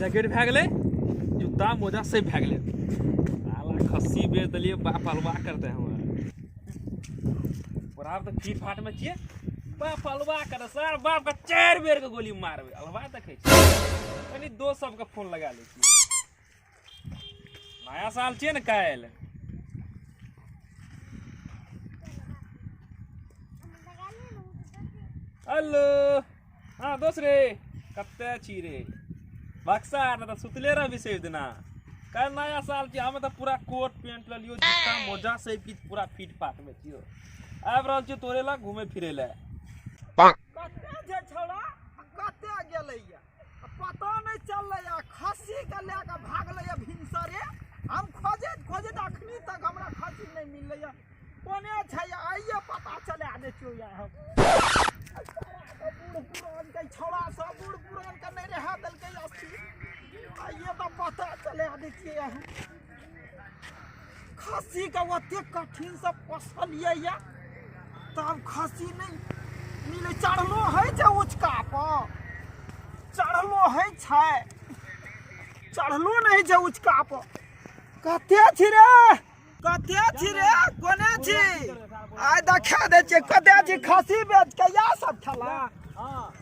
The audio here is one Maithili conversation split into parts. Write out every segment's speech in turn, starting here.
जैकेट भए गेलै जूता मोजा से भए गेलै साला खस्सी बेच देलियै बाप अलवा करते हमरा बराबर तऽ फीट फाटमे छियै बाप अलवा करते सर बापके चारि बेरके गोली मारबै अलवा देखै छी कनि दोस्त सबके फोन लगा लै छी नया साल छियै ने काल्हि हेलो हँ दोस्त रे कते छी रे बक्सा आर तऽ सुतले रह विशेष दिना काल्हि नया साल छियै हमे तऽ पूरा कोट पेंट लऽ लियो जूता मोजा सब किछु पूरा फिट फाट मे छियो आबि रहल छियै तोरे लग घूमे फिरे लए कते जे छौड़ा कते गेलैया पता नहि चललैया खस्सी के लए कऽ भागलैया भिनसरे हम खोजैत खोजैत अखनी तक हमरा खस्सी नहि मिललैया कोने छै आइए पता चला दै छियौ या हम बूढ़ पुरान के छौड़ा सब बूढ़ पुरान के नहि रहा देलकै अस्थिर आइए तऽ पता चला दै छियै हम खस्सी के ओते कठिन से पोसलिए या तब खस्सी नहीं मिले चढ़लो है छै उचका पर चढ़लो है छै चढ़लो नहीं छै उचका पर कते छी रे कते छी रे कोने छी आइ देखा दे छियै कते छी खस्सी बेच के इएह सब खेला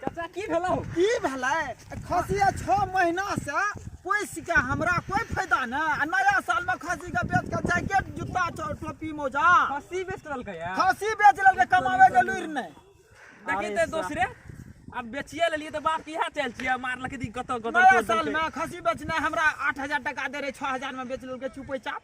चाचा की भेलौ की भेलै खसिया छओ महीना से पोस के हमरा कोई फायदा ना आ नया साल में खसी के बेच के जैकेट जूता टो- टोपी मोजा खसी बेच लेलकै या खसी बेच लेलकै कमावे के लुरि नहीं देखी अरे ते सा- दोसरे अब बेचिए लेलिए तो बाप इहा चल छिए मारलक दी कत कत नया साल में खसी बेचने हमरा आठ हजार टका दे रहे छह हजार में बेच लेलकै चुपे चाप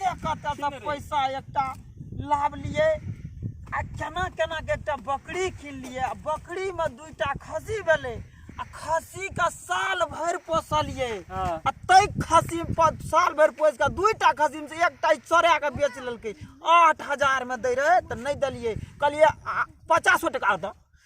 कते कते से पैसा एकटा लावलिए आ केना केना के एकटा बकरी किनलिए आ बकरी में दुईटा खस्सी भेलै आ खस्सी के साल भरि पोसलिए हाँ। आ तै खस्सी पर साल भरि पोस के दुईटा खस्सी में से एकटा चोरा के बेच लेलकै आठ हजार में दै रहे तऽ नहि देलिए कहलिए आ, पचासो टका दऽ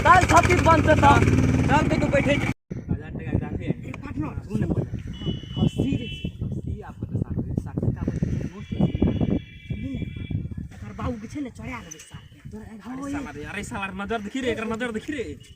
काल्हि छत्तीस बन्द छै तऽ चल कहियो बैठे छी बाबूके छै ने चढ़ा देबै साथमे तोरा नजर देखी रे एकर नजर देखी रे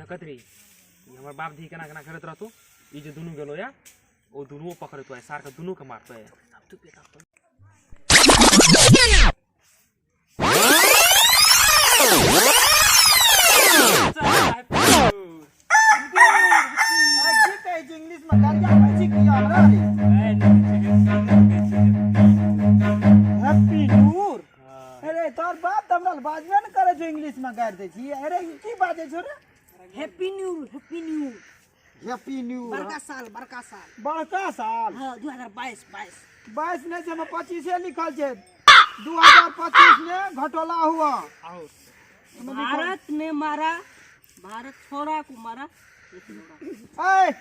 देखत रही ई हमर बाप धी केना केना करैत रहतौ ई जे दुनू गेलो या ओ दुनू पकड़तो सार के दुनू के मारतो या अरे तोर बाप तऽ हमरा लग बाजबे ने करै छौ इंग्लिश में गाड़ि दै छी अरे ई की बाजै छौ रे happy new happy new happy new बड़का साल बड़का साल बड़का साल हाँ दू हजार बाईस बाईस बाईस नहीं छै में पच्चीसे लिखल छै दू हजार पच्चीस में घटोला हुआ भारत ने मारा भारत छोरा को मारा लेकिन होगा। ऐ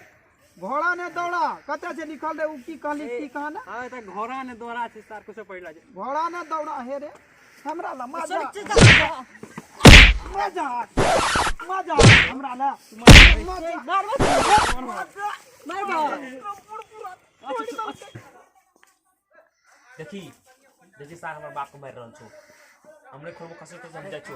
घोड़ा ने दौड़ा कते से लिखल रहे उ की कहली की कहना हां त घोड़ा ने दौड़ा छै सर कुछ पढ़ला जे घोड़ा ने दौड़ा हे रे हमरा ला मजा मजा मजा हमरा ला मजा मार मत मार मार देखी देखी सर हमर बाप को मार रहल छौ हमरे खोबो कसर तो समझा छौ